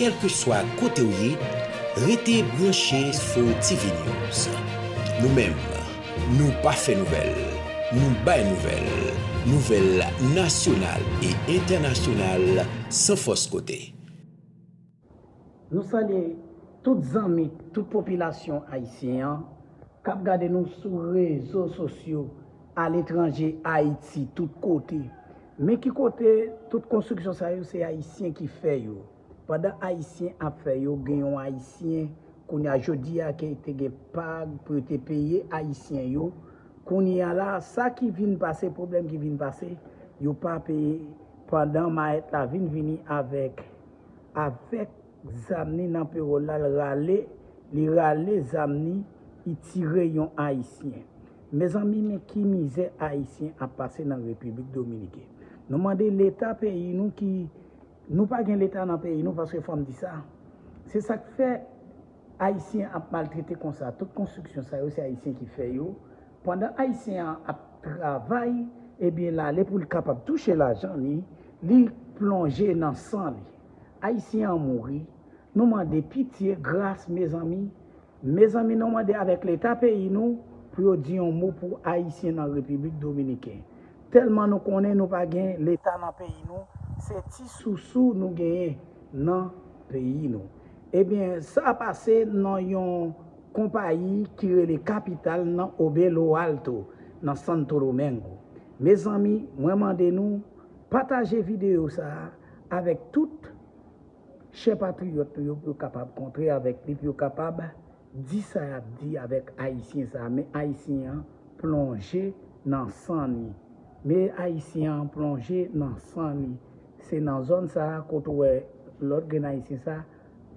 Kèlkeswa kote w ye, rete branche sou TV News. Nou menm, nou pa fè nouvèl, nou bay nouvèl, nouvèl nasyonal e entènasyonal san fòs kote. Nou salye tout zanmi, tout popilasyon ayisyen an k ap gade nou sou rezo sosyo. A letranje, Ayiti, tout kote. Men ki kote, tout konstriksyon sa yo se Ayisyen ki fè yo. Pandan Ayisyen ap fè yo, gen yon Ayisyen, kounye a, jodi a ke te gen pag pou yo te peye Ayisyen yo, kounye a la, sa ki vin pase, pwoblèm ki vin pase, yo pa peye pandan mayèt la vin vini avèk avèk zam ni nan pewòl la, l rale, li rale zam ni, li tire yon Ayisyen. Mezanmi men ki mizè ayisyen ap pase nan repiblik dominiken nou mande leta peyi nou ki nou pa gen leta nan peyi nou paske fòm di sa se sak fè ayisyen ap maltrete konsa tout konstriksyon sa yo se ayisyen ki fè yo pandan ayisyen an ap travay ebyen lale poul kapab touche lajan li li plonje nan san li ayisyen an mouri nou mande pitye gras mezanmi Mezanmi nou mande avèk leta peyi nou pou yo di yon mo pou ayisyen nan repiblik dominiken tèlman nou konnen nou pa gen leta nan peyi nou se ti sousou nou genyen nan peyi nou ebyen sa pase nan yon konpayi ki rele kapital nan o belo alto nan santo domengo mezanmi mwen mande nou pataje video sa avèk tout Chè patriyòt nou yo pou yo kapab kontre avèk li, pou yo kapab di sa y ap di avèk Ayisyen sa a. Men Ayisyen an plonje nan san li. Men Ayisyen an plonje nan san li. Se nan zòn sa a kote ou wè lòt grenn Ayisyen sa a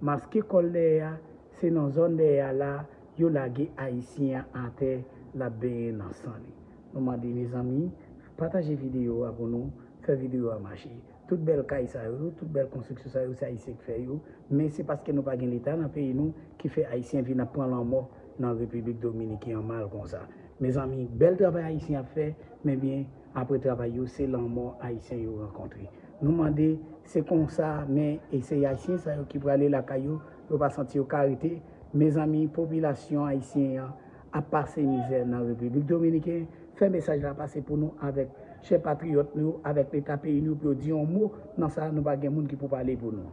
maske kò l dèyè a, se nan zòn dèyè a la a yo lage Ayisyen an atè l ap benyen nan san li. Nou mande mezanmi, pataje videyo a pou nou, fè videyo a mache. Tout bèl kay sa yo, tout bèl konstriksyon sa yo se Ayisyen k fè yo, men se paske nou pa gen leta nan peyi nou ki fè Ayisyen vin ap pran lanmò nan Repiblik Dominiken an mal konsa. Mezanmi, bèl travay Ayisyen ap fè, men byen apre travay yo se lanmò Ayisyen yo rankontre. Nou mande, se konsa men e se Ayisyen sa yo ki prale lakay yo, yo pa santi yo ka rete, mezanmi popilasyon Ayisyen an, ap pase mizè nan Repiblik Dominiken, fè mesaj la pase pou nou avèk chè patriyòt nou yo, avèk leta peyi nou pou yo di yon mo nan sa nou pa gen moun ki pou pale pou nou.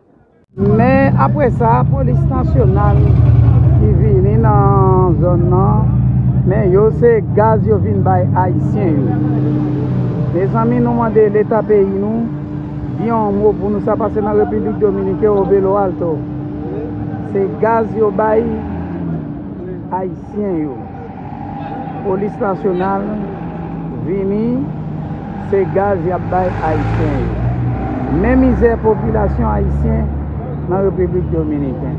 Men apre sa polis nasyonal ki vini nan zòn nan men yo se gaz yo vin bay ayisyen yo. Mezanmi nou mande leta peyi nou di yon mo pou nou sa pase nan Repiblik Dominiken o Belo Alto. Se gaz yo bay. Ayisyen yo. Polis nasyonal vini se gaz yap bay ayisyen yo. Men mizè popilasyon ayisyen nan Repiblik Dominiken.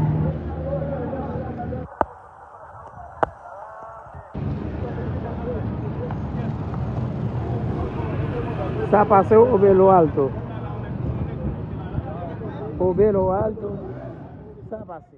Sa pase ou Obelo Alto? Obelo Alto, sa pase?